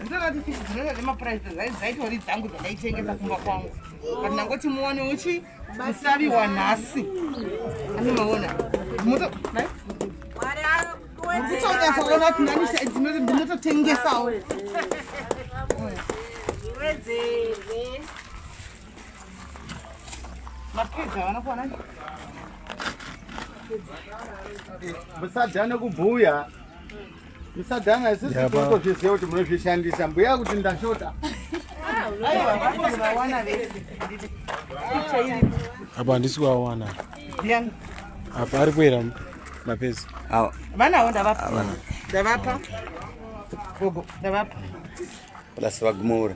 ndinoti fishi dzinenge dzemapuraisi dzaitori dzangu dzandaitengesa kumba kwangu but ndangoti muone uchi musaviwa nhasi ani maona mutotonyasaona kuti nani ndinototengesawo musadhane kubhuya musadhana isisi tinotozviziva kuti munozvishandisa mbuya kuti ndashota apa handisi kuawana apa ari kuera mapezi vanawo ndavapa ndavapa gogo ndavapa plus vagumaura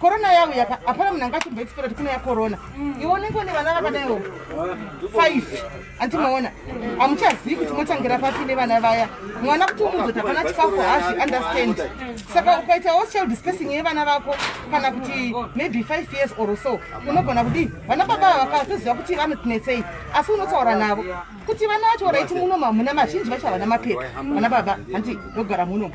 corona yavo yaka hapana munhu anga achimboexpera kuti kune yacorona mm. iwe unenge une vana vakadaiwo five andi maona hamuchazivi kuti motangira papi nevana vaya mwana kuti umuzoti hapana chikafu hazvi understand saka ukaitawo child spacing yevana vako kana kuti maybe five years or so unogona kudii vana baba ava vakatoziva kuti vanotinetsei asi unotaura navo kuti vana vacho raiti munomu hamuna mazhinji vacho havana mapepa vana baba handi ndogara munomu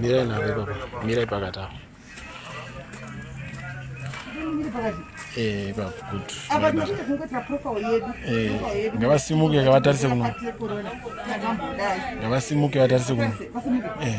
Mirai navo ipapo, mirai pakati apo. Eh, eh, ngavasimuke vatarise kuno ngavasimuke vatarise kuno eh.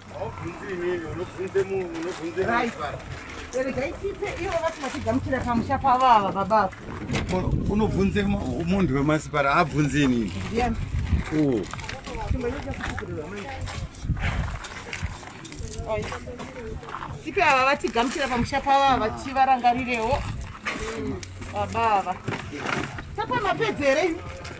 unobvunze munhu wemasipara abvunze inini sipi ava vatigamuchira pamusha pavo ava tichivarangarirewo baba ava tapa mapedzi here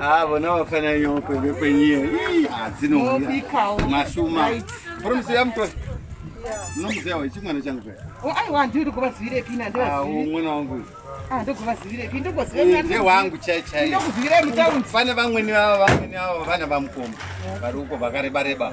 Ah, vona vafana nyoko vekwenyie adzinobikamasuma promusiya mutoa munomuziva wechi mwana changu pe oh, aiwa ndiri kuvazivire pina ndivazivireumwana ah, wangu ah, ndokuvazivire pi ndokuzive wangu chai chai ndokuzivire mutaundi pane vamweni vavo vamweni vavo vana vamukomba vari uko vakarebareba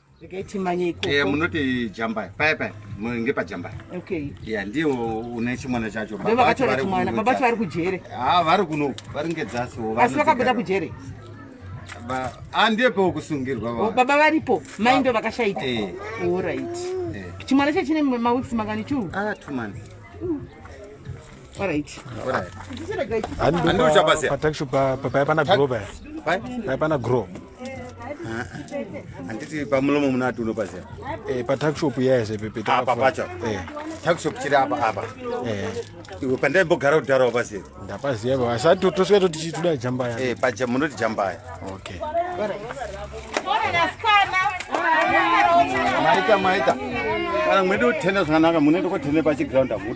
regai timanye ikoko eh munoti jambai paya paya munge pa jambai okay yeah ndiwo une chimwana chacho baba vacho vari kumwana baba vacho vari kujere ah vari kuno vari ngedzasi wo vasi vakabuda kujere ba andie ah, po kusungirwa ba oh, baba varipo mai ndo vakashaita eh all right eh. chimwana chacho chine ma weeks mangani chu ah two months mm. paana grow handiti pamulomo muna ati unopaziva eh, patakshop yese pepeapa ah, pacho eh. takshop chiri apa apa eh. iwe pandaimbogara kudhara wapaziva ndapaziva baba asi tosvika toti chituda jambaya munoti jambaya okay maita maita kana mwede kutenda zvakanaka munoenda kotenda pachiground apo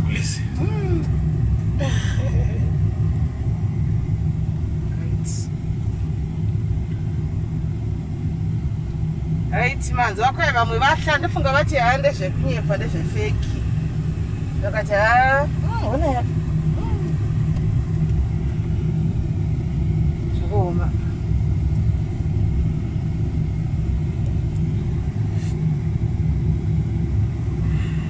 Please. Mm. right manzi wako vamwe vahla ndofunga vati haa ndezvekunyepa ndezvefeki ndakati haa hmm, ona ya hmm. zvakaoma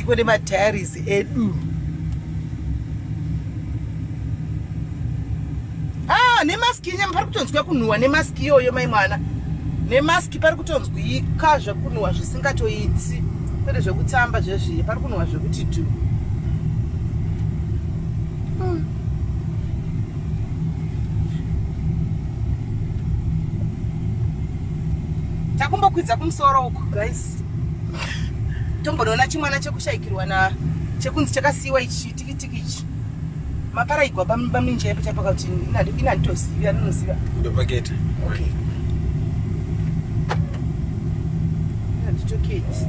iko nemadiaries edu ah, nemaski nyama pari kutonzwa kunhuwa nemaski iyoyo mai mwana nemaski pari kutonzwika zvekunhuwa zvisingatoiti kwete zvekutamba zvezviye pari kunhuwa zvekuti tu takumbokwidza kumusoro uku guys Tombonoona chimwana chekushaikirwa na chekunzi chakasiiwa ichi chitikitiki ichi. Mapara igwa bamimba minje yepo chapa kuti ina ina ndoziva ndoziva. Ndo pakete. Okay. Ina nditoketi.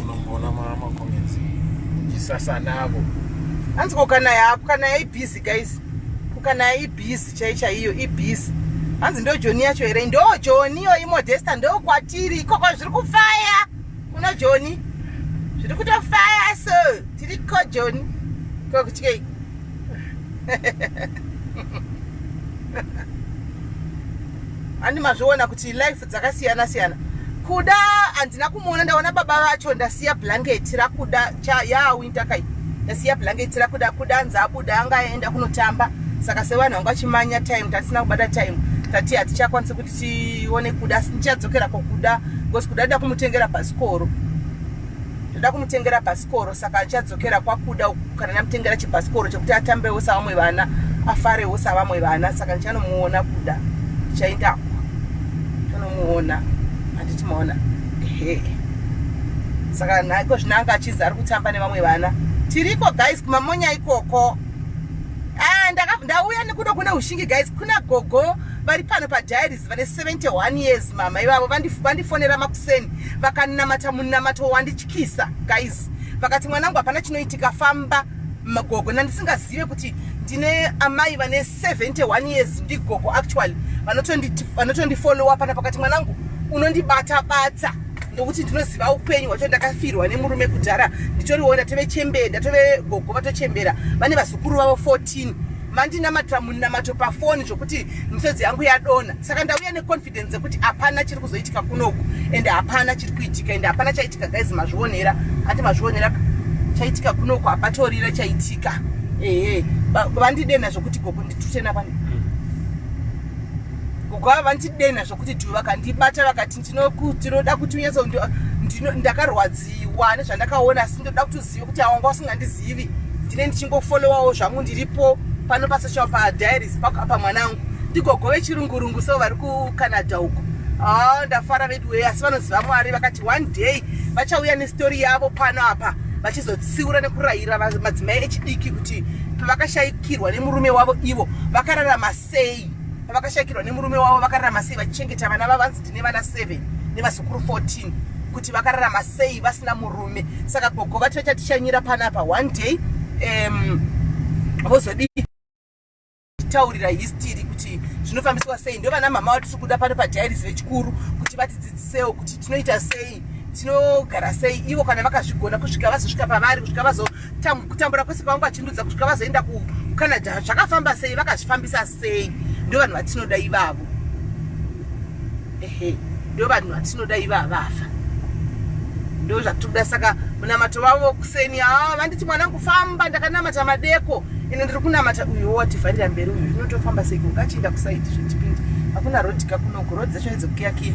unomboona makomenzi chisasa navo hanzi ko kana yapo kana yaibhizi guys kana yaibhizi chai chaiyo ibhizi hanzi ndo joni yacho here ndo joni yoyi modesta ndo kwatiri ikoko zviri kufaya kuno joni zviri kutofaya so tiri ko joni ko kutyei andi mazviona kuti life dzakasiyana siyana kuda handina kumuona ndaona baba vacho ndasiya blanket rakuda ya winter kai ndasiya blanket rakuda kuda anzi abuda anga aenda kunotamba saka sevanhu vanga vachimanya time tatisina kubata time tati hatichakwanisi kuti tione kuda ndichadzokera kokuda because kuda nda kumutengera bhasikoro ndoda kumutengera bhasikoro chikoro saka achadzokera kwakuda kana namutengera chibhasikoro chekuti atambewo savamwe vana afarewo savamwe vana saka ndichanomuona kuda ndichaendako ndichanomuona handiti maona ehe saka naiko zvino anga achizi ari kutamba nevamwe vana tiriko guys kumamonya ikoko ah, ndauya nekuda kune ushingi guys kuna gogo vari pano padiaries vane 71 years mama ivavo vandifonera makuseni vakanamata munamato wandich kisa guys vakati mwanangu hapana chinoitika famba magogo nandisingazive kuti ndine amai vane 71 years ndigogo actually vanotondifollowa pana pakati mwanangu unondibata bata ndokuti ndinoziva upenyu hwacho ndakafirwa nemurume kudhara nditoriona tove chembere ndatove gogo vatochembera vane vazukuru vavo 14 mandinamatira munamato pafoni zvokuti misodzi yangu yadona saka ndauya ne evidence yekuti hapana chiri kuzoitika kunoku ende hapana chiri kuitika ende hapana chaitika guys mazvionera ati mazvionera chaitika kunoku hapatorira chaitika ehe vandidena zvekuti gogo nditutena vani hmm. gogo ava vandidena zvekuti dhu vakandibata vakati ndinoda kuti unyatsondakarwadziwa nezvandakaona asi ndinoda kuti zivi kuti awanga usingandizivi ndine ndichingofollowawo zvangu ndiripo pano pasocial padiaries pako apa mwana angu ndigogo vechirungurungu so vari kucanada uko ah, ndafara vedu wee asi vanoziva mwari vakati one day vachauya nestori yavo pano apa vachizotsiura nekurayira madzimai echidiki kuti pavakashayikirwa nemurume wavo ivo vakararama sei pavakashakirwa nemurume wavo vakararama sei vachichengeta vana vavanzi ndine vana 7 nevazukuru 14 kuti vakararama sei vasina murume saka gogo vati vachatishanyira panapa one day um, vozodii kutaurira histiri kuti zvinofambiswa sei ndovana mama vatiri kuda pano padiaries vechikuru kuti vatidzidzisewo kuti tinoita sei tinogara sei ivo kana vakazvigona kusvika vazosvika pavari kusvika vazo kutambura kwese kwavanga vachindudza kusvika vazoenda kucanada zvakafamba sei vakazvifambisa sei ndo vanhu vatinoda ivavo ehe ndo vanhu vatinoda ivavo vafa ndo zvatinoda saka munamato vavo kuseni haa ah, vanditi mwana kufamba ndakanamata madeko ine ndiri kunamata uyo wativharira mberi uyu inotofamba sei kungachienda kusaidi zvitipindi hakuna rodika kunoku rod dzacho idzekukiyakiya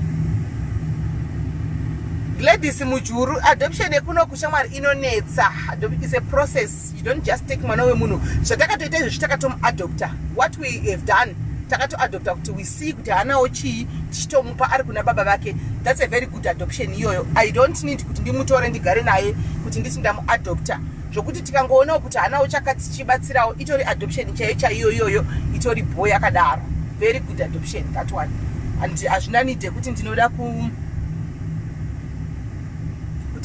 gladys mujuru adoption yekunoku shamwari inonetsa adoption is a process you don't just take mwana wemunhu zvatakatoita izvezvi takatomuadopta what we have done takatoadopta kuti we see kuti haanawo chii tichitomupa ari kuna baba vake that's a very good adoption iyoyo i don't need kuti ndimutore ndigare naye kuti nditi ndamuadopta zvokuti tikangoonawo kuti haanawo chakati chibatsirawo itori adoption chaiyo chaiyo iyoyo itori boy akadaro very good adoption that one and hazvina nide kuti ndinoda ku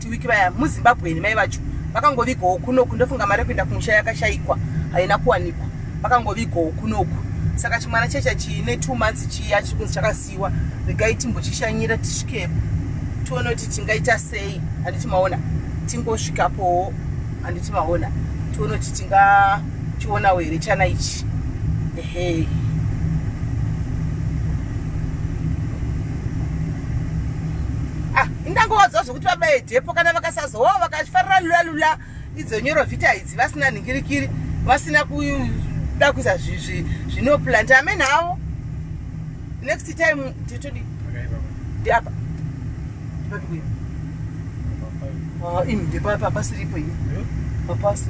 Tuwiki vaya muZimbabwe mai vacho vakangovigawo kunoku ndofunga mari yekuenda kumusha yakashaikwa haina kuwanikwa vakangovigawo kunoku saka chimwana checha chiine two months chiya chiri kunzi chakasiiwa regai timbochishanyira tisvikepo tione kuti tingaita sei handiti maona tingosvikapowo handiti maona tione kuti tingachionawo here chana ichi ehe ndangovaziva zvekuti vabaye dhepo kana vakasazowa oh, vakafarira lula lula idzo nyoro vhita idzi vasina nhingirikiri vasina kuda kuisa zvinoplanta amene avo next time titodi ndiapa ndipapikuya ini ndipapa pasiripo ini papasi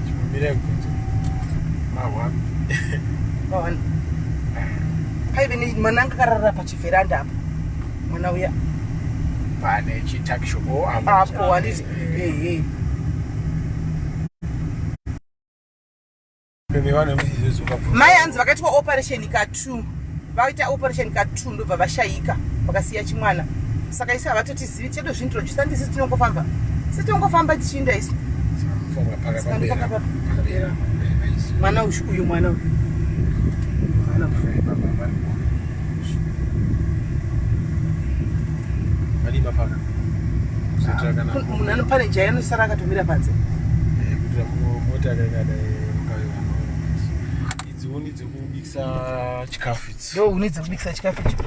paive nemwana anga akarara pachivheranda apa mwana uya pane chitakishopo apo handizi ehe mai hanzi vakaitwa operation ka two vaita operation ka two ndobva vashayika vakasiya chimwana saka isi havatoti tizivi chedu zvintroduce handi sisi tinongofamba sisi tinongofamba tichiinda isu mwana uyu uyu mwana uyu munhu anopane jaya anosara akatomira panze idzo huni dzekubikisa chikafu idzo huni dzekubikisa chikafu icho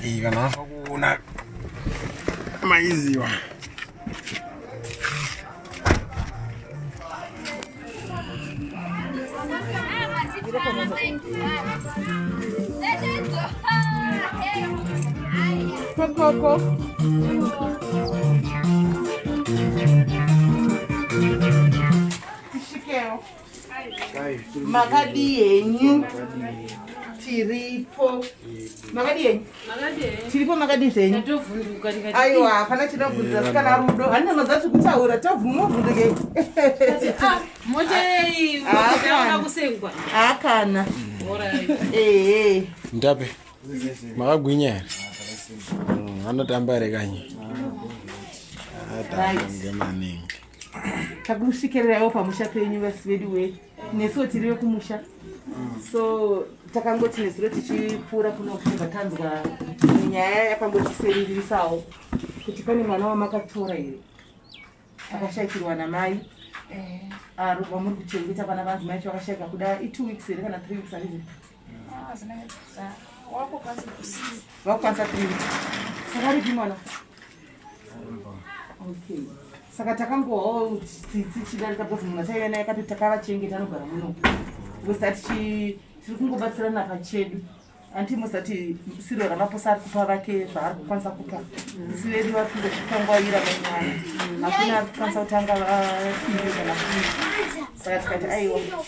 iyi kana afa kuona maiziwa Coco. makadii henyu tiripo makadii henyu tiripo makadii zvenyu aiwa hapana chinobvunza sikana rudo handi anoza tiri kutaura tobvumovhundike haakana ehe ndape makagwinya here anotamba here kanye atamba ngemaningi takusvikiriraiwo pamusha penyu vasi vedu we nesuwo tiri vekumusha so takangoti nezuro tichipfuura kunofunga tanzwa nyaya yakangotiseririsawo kuti pane mwana wamakatora here akashaikirwa namai eh. ah, vamuri kuchengeta vana vanzi mai chavakashaika kuda itwo weeks here kana three weeks aii vakukwanisa kuita sakaripi mwana okay saka takangohwa tsitsi chidarika because munhu ataive naye kati takavachengeta anogara muno wesa tichi tiri kungobatsirana pachedu anti musati siro ramaposa ari kupa vake zvaari kukwanisa kupa isi vedu vari kungozvikangwaira manyaya hakuna ari kukwanisa kutanga vaii kana saka tikati aiwa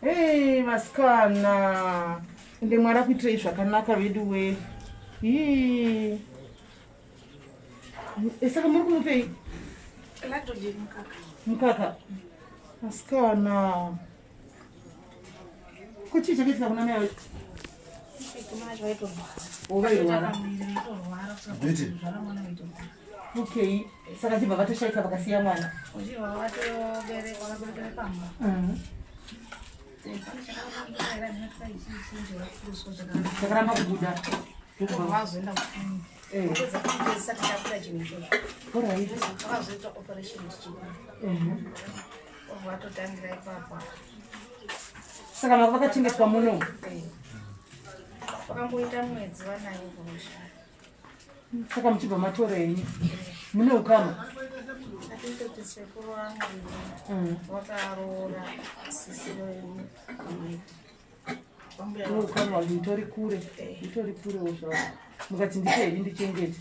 Hey, vasikana ende mwari akuitirei zvakanaka vedu we hii E, saka muri kumupei mukaka vasikana ko chii chakaitika kuna mai vacho okay saka chibva vatoshaika vakasiya mwana chakaramba kubuda Saka mako vakachengetwa muno. Eh. Vakamboita mwedzi vanayo ngozha. Saka muchibva matora henyu. Mune ukama. Atitoti sekuru wangu. Mm. Vakaroora sisi wenyu. Unokanwa nditori kure, nditori kure wozvawo. Mukati ndichei ndichengete.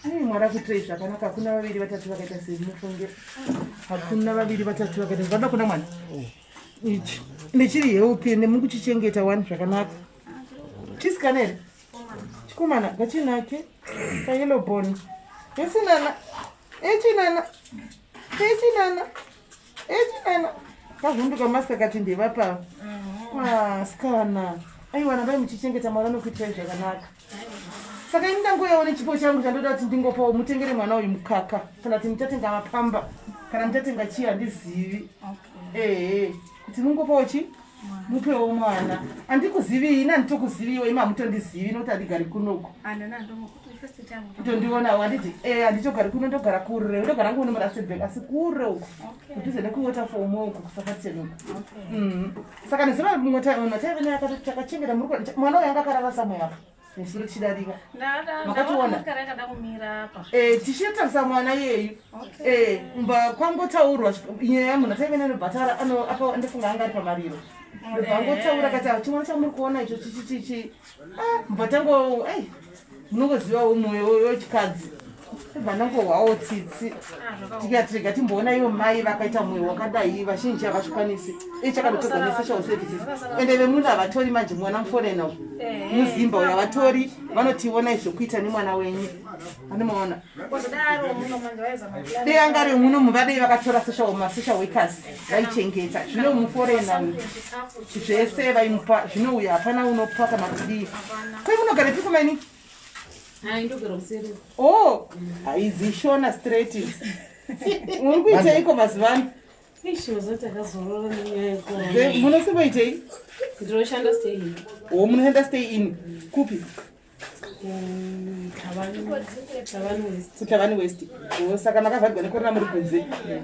Ai mwari akuitirei zvakanaka hakuna vaviri vatatu vakaita seni mufunge. Hakuna vaviri vatatu vakaita zvada kuna mwana. Ichi nechiri healthy nemukuchichengeta wani zvakanaka. Chisikana here? Chikomana kachinake kayellow bone. Yesinana echinana echinana echinana kavhunduka masta kati ndevapava asikana ah, aiwa nabai muchichengeta mwana nokuitirai zvakanaka saka ini ndangoyawo nechipo changu chandoda kuti ndingopawo mutengere mwana uyu mukaka kana kuti muchatenga mapamba kana muchatenga chii handizivi ehe kuti mungopawo chii mupewo mwana andikuzivi ini anditokuziviwo ima hamutondizivi nokuti andigari kunoku kutondionawo handiti e eh, handitogari kuno ndogara kure ndogara ngu nomurasebek asi kure uku kudhuze nekuwaterfom uku kusakatenoku mm. saka nezova mumwe taive naye akatotakachengeta mwana uyo anga akarara samwe apa nesuro chidarika makationa eh, tichitarisa mwana iyeyu eh, mba kwangotaurwa nyaya yamunhu ataive nenobhatara andofunga anga ari pamariro vangotaura kati ah, chimwana chamuri kuona icho chichichichi ah, mbatango munongozivawo mwoyo wechikadzi vanongo hwawo tsitsi tikatirega timboona ivo mai vakaita mwoyo wakadai vazhinji havazvikwanisi ichakadotodza nesocial services ende vemunhu havatori manje mwana muforena u muzimba uyo havatori vanotionai zvekuita nemwana wenyu anomaona dei anga ri muno muvadei vakatora social masocial workers vaichengeta zvino muforena uyu zvese vaimupa zvino uyo hapana unopa kana kudii kwemunogara piko mainiki Oh, haizi shona straight uri kuiteiko mazuva ano munosimboitei ndinoshanda stay in o munoshanda stay in kupi kutavani west saka makavhagwa nekorona muri kunze yeah.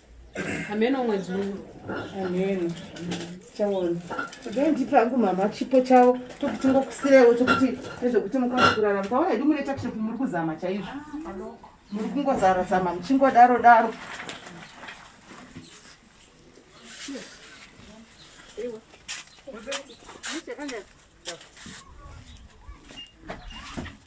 hameno mwedzi uno hameno chaona today ndipe hangu mama chipo chavo tokuti ngokusirewo chokuti nezvekuti mukwanisa kurarama taona idi mune takishopi muri kuzama chaizvo muri kungozara zama muchingodaro daro Thank you.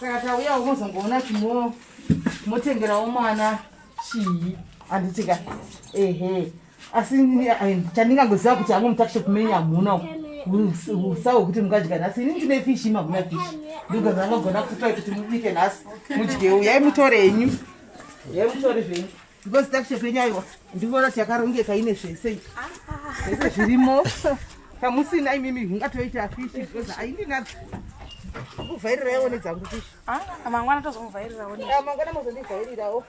saka tauya unozongoona timotengerawo mwana chii handitika ehe asi chandingangoziva kuti hangu mutakishop menyu hamuna usa wekuti mungadya nhasi ini ndine fishi mahuna fishi ndingaza anogona kutoa kuti mubike nhasi mudye uyai mutore henyu uyai mutore zvenyu because takuche penyu aiwa ndikuona kuti yakarongeka ine zvese zvese zvirimo pamusina imimi ungatoita fishi because aindinadzo kuvhairira yaone dzangu fishi ah, mangwana tozomuvhairirawo ah, mangwana mozondivhairirawo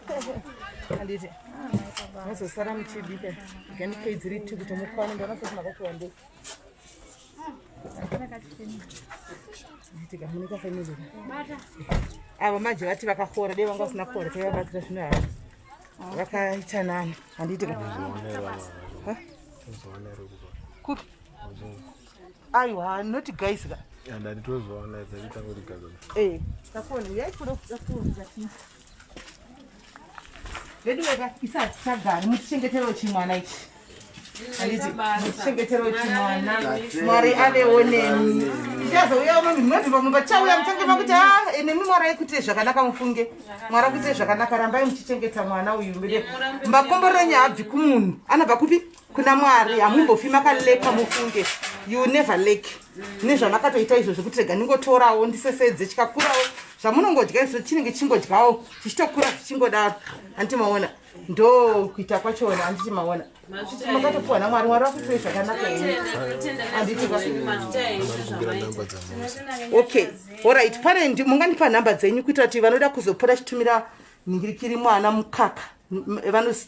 anditi ah, mozosara muchibika ganipei dziri two kuti mukwane ndoona sekumakatiwandei avo manje vati vakakora dei vanga vasina kora taivabatsira zvino havo vakaita nani handiitika kupi aiwa not guys ka andati tozoona dzaita kuti gaza eh takona yaikuda kuda kuona veduweka isati chagari mutichengeterewo chimwana ichi mutichengeterewo chimwana mwari avewo nemi tichazouya uno minoziva munhu vachauya muchange makuti a ah, eh, nemi mwari aikuitire zvakanaka mufunge mwari akuitire zvakanaka rambai muchichengeta mwana uyu mbere makomborero nyaya abvi kumunhu anobva kupi kuna mwari hamumbofi makaleka mufunge you never lake nezvamakatoita izvo zvekuti rega ndingotorawo ndisesedze chikakurawo zvamunongodya izvo chinenge chingodyawo chichitokura zvichingodaro handiti maona ndo kuita kwachona handiti maona makatopiwa namwari mwari vakuitoi zvakanaka okay orit pane mungandipa nhamba dzenyu kuitira kuti vanoda kuzopora chitumira nhingirikiri mwana mukaka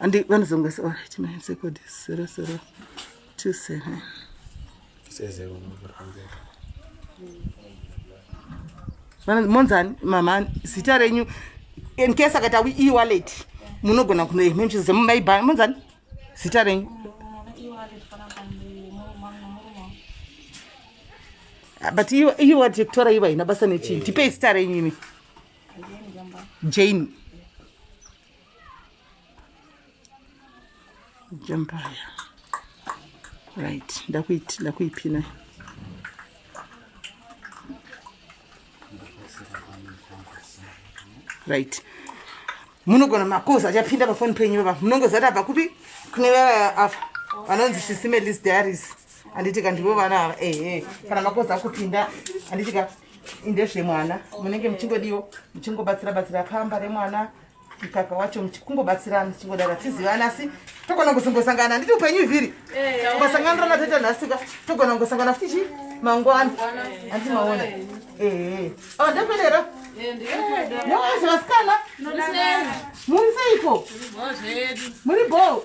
Andi vanozonga so right my second is 0027. Sezero mwanzo. Vana monzani mama zita renyu in case akata we e-wallet munogona kuno imwe mchizo zemu mai bhanga monzani zita renyu. Ah, but iwe iwe kutora iwe haina basa nechii tipei zita renyu imi jane jambaya right ndakuiti ndakuipina right munogona makozi achapinda pafoni penyu vava munongozati abva kupi kune vava apa vanonzi shisime list diaries anditika ndivo vana ava ehe kana makozi akupinda anditika ndezvemwana munenge muchingodiwo muchingobatsira batsira pamba remwana mkaka wacho kungobatsirana chingodaro hatizivani asi togona kuzongosangana handiti upenyu ivhiri ungasanganira natoita nhasika togona kungosangana futi chi mangwana handiti maona ee ava ndekwenera noazve vasikana muri seiko muri bho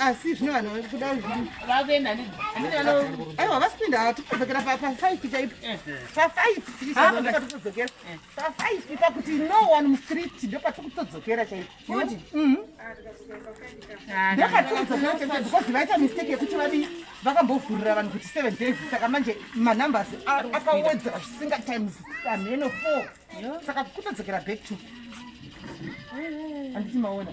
asi zvino vanhu vakuda vakuenda aiwa vasipinda tikudzokera pafaiti chaipo pafaitikudzokera pafaiti pakuti no one mustreet ndopatikutodzokera chaipo ndopatikudzokera chaipo because vaita mistake yekuti vadii vakambovhurira vanhu kuti seven days saka manje manumbers akawedzera zvisinga times amheno four saka kutodzokera back to anditi maona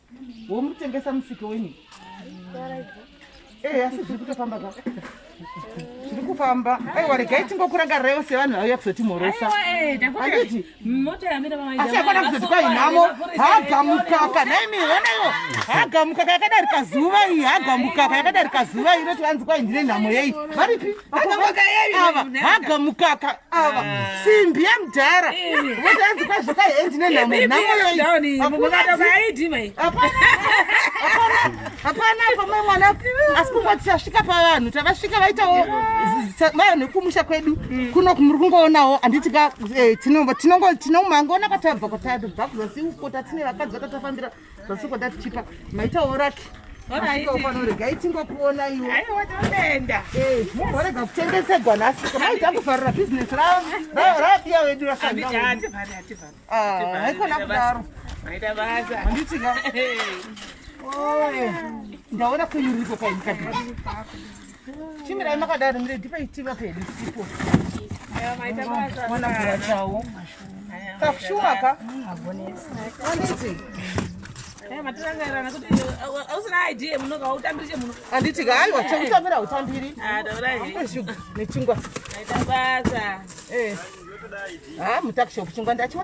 womutengesa musike wenyu eh, asi zviri kutofamba ka zviri kufamba aiwa regai tingokurangaraiwo sevanhu vauya kuzotimhorosa anditi asi akona kuzoti kwai nhamo hagamukaka naimi onaiwo hagamukaka yakadarika zuva iyi hagamukaka yakadarika zuva iyi inoti vanzi kwai ndine nhamo yei varipi hagamukaka ava mm. simbi yemudhara votanzi kwazvika hendi nenhamoyoihapana pamwe mwana asi kungo tichasvika pavanhu tavasvika vaitawo maya nekumusha kwedu mm. kuno muri kungoonawo handiti ka eh, tinongomangoona kwatabva kwatabva kuzasi uko tatine vakadzi vatatafambira Vasiko dati chipa maita oraki. Regai tingokuonaiwo. Aiwa toenda. Eh, mumborega kutengesegwa nhasi. Kamai takufarira business ravo. Rapiya wedu rasanga. Hativhari, hativhari. Ah, haikona kudaro. Maita basa. Handiti ka. Oye. Ndaona kuyuriko kaini kadini. Chimirai makadaro mire dipa itiva pedu sipo. Mwana kuwa chawo. Kafshuma ka? Abonesi. Abonesi. Eh, matirangairana kuti ausina eh, idea muno ka utambiri chemuno. Anditi ka aiwa chekutambira utambiri. Ah, daura he. Ndeshuga nechingwa. Aita basa. Eh. Ah, mutakishopu chingwa ndachiwa.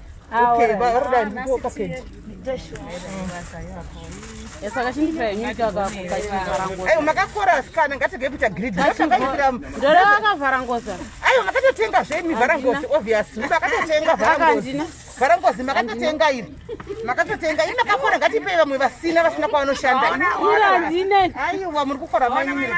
Okay, ba order ah, ndipo package. Yasaka chindipa yenyika kakakakarangoza. Ayo makakora asikana ngatege kuita greed. Ndakakira. Ndore akavhara ngoza. Ayo makatotenga zve mi vhara ngozi obviously. Makatotenga vhara ngozi. Vhara ngozi makatotenga iri. Makatotenga iri makakora ngatipe vamwe vasina vasina kwavanoshanda. Ayo wa muri kukora manyumira.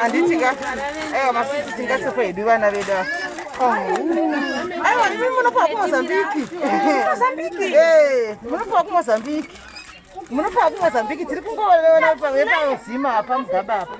handitika aiwa masisi tingatsekwa hedu vana vedu ava aiwa ndimi munopiwa kumozambiki munopiwa kumozambiki munopiwa kumozambiki tiri kungoona pazima apa mugaba apa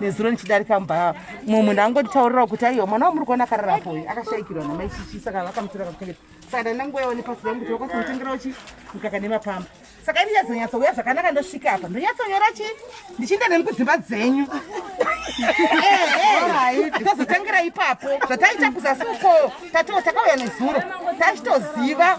nezuro ndichidarika mba mumwe munhu angonditaurirawo kuti aiwa mwana wamuri kuona akararapo uyu akashaikirwa namai chichi saka vakamutora kakuchengeta saka ndandangoyawo nepasi rangu kuti vakwanisa kutengerawo chi mukaka nemapamba saka ini yazonyatsa uya zvakanaka ndosvika apa ndonyatsonyora chi ndichienda nemi kudzimba dzenyu tozotengera ipapo zvataita kuzasi uko tatoo takauya nezuro tachitoziva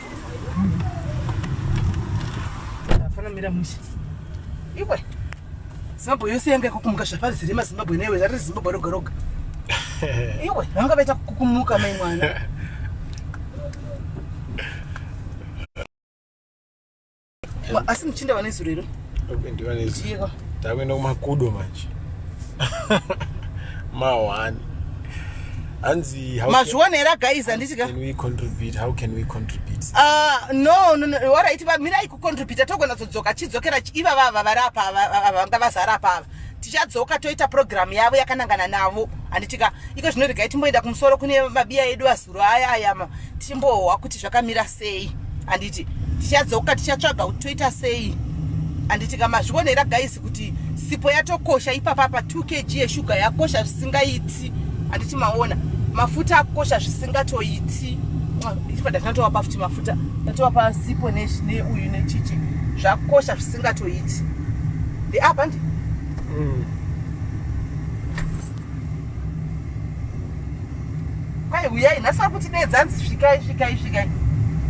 Afanamira musha. Iwe. Zimbabwe yose yanga yakukumuka zvapazere mazimbabwe newe zari zimbabwe roga roga. Iwe vanga vaita kukumuka mai mwana. asi muchinda vane zuro iro takuenda kumakudo manje mahwani hanzi mazviona here guys handisika ah, no no no waraiti vamirai kucontributa togona todzoka chidzokera iva vava vari apa vanga vazara apa ava tichadzoka toita program yavo yakanangana navo handitika iko zvino regai timboenda kumusoro kune mabiya edu azuro aya ayama timbohwa kuti zvakamira sei handiti tichadzoka tichatsvaga kuti toita sei handitika mazvionera guys kuti sipo yatokosha ipapa pa 2 kg yeshuga yakosha zvisingaiti handiti maona mafuta akosha zvisingatoiti ifa ndatinatowapa futi mafuta tatowapa sipo neuyu nechichi zvakosha singatoiti ndeapa ndi mm. kwai huyai nhasi vari kutidedza hanzi svikai svikai svikai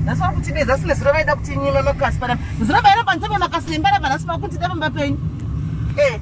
nhasi vari kutidedza sine zuro vaida kuti nyima makasi panapa zuro vaira panzvimbo makasi nembaramba nhasi vakutida pamba penyu ee eh.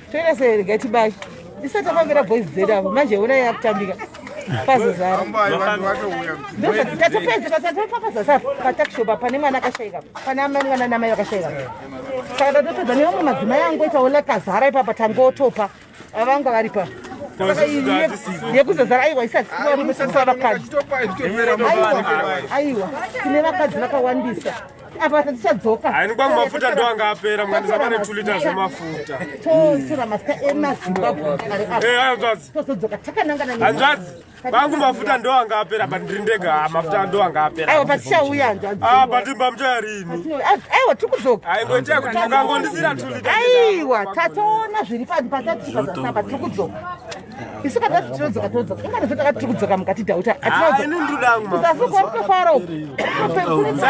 Toenda sei regai tibai. Isa tafambira boys dzedu apo manje ona yakutambika. Pazozara. Ndokuti tatopedza basa topapasa sa patakishow pa pane mwana akashaika. Pana amai mwana namai vakashaika. Saka tatopedza neumwe madzimai angu ita ola kazara ipapa tangotopa. Avanga varipa. Saka iye yekuzozara aiwa isati kuwa musa vakadzi. Aiwa. Aiwa. Tine vakadzi vakawandisa. apa tichadzoka hainigwa mumafuta ndo anga apera mukandisa pane two liters emafuta totora mafuta emazimbabweanzvadzitozodzaka eh, takanangana hanzvadzi vangu mafuta ndo anga apera but ndiri ndega ah, mafuta ndo anga apera aiwa patichauya hanzvadzi ah, but mbamuchaya rini aiwa tiri kudzoka aingoitea kuti mukangondisira two liters aiwa tatoona zviri patatiaa tiri kudzoka isu kana tati tinodzoka tinodzoka ingati zve takati tiri kudzoka mukati dauta atinazokwarikofara uku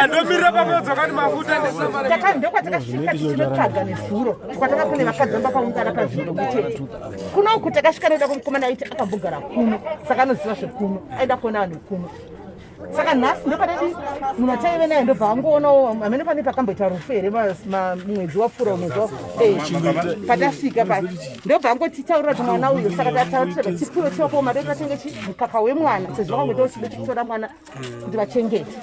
ndomirira pamoodzoka ni mafuta taka ndokwatakasvika tichinotsvaga nezuro kwataka kune vakadzi vamba paungana pazviro kutete kuno uku takasvika noda kumukomana aiti akambogara kuno saka anoziva zvekuno aida kuona vanhu vekuno saka nhasi ndopanedi munhu ataive naye ndobva angoonawo amene pane pakamboita rufu here mwedzi wapfuura mwedzi patasvika pa ndobva angotitaurira kuti mwana uyo saka tatauraa tipiwe tiwapo mari tatenge chi mukaka wemwana sezvo vakangoita uchida titora mwana kuti vachengete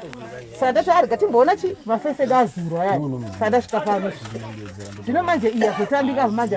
saka ndati arega timboona chi mafese edu azurwa yaya saka ndasvika pano zvino manje iya zvotambika manje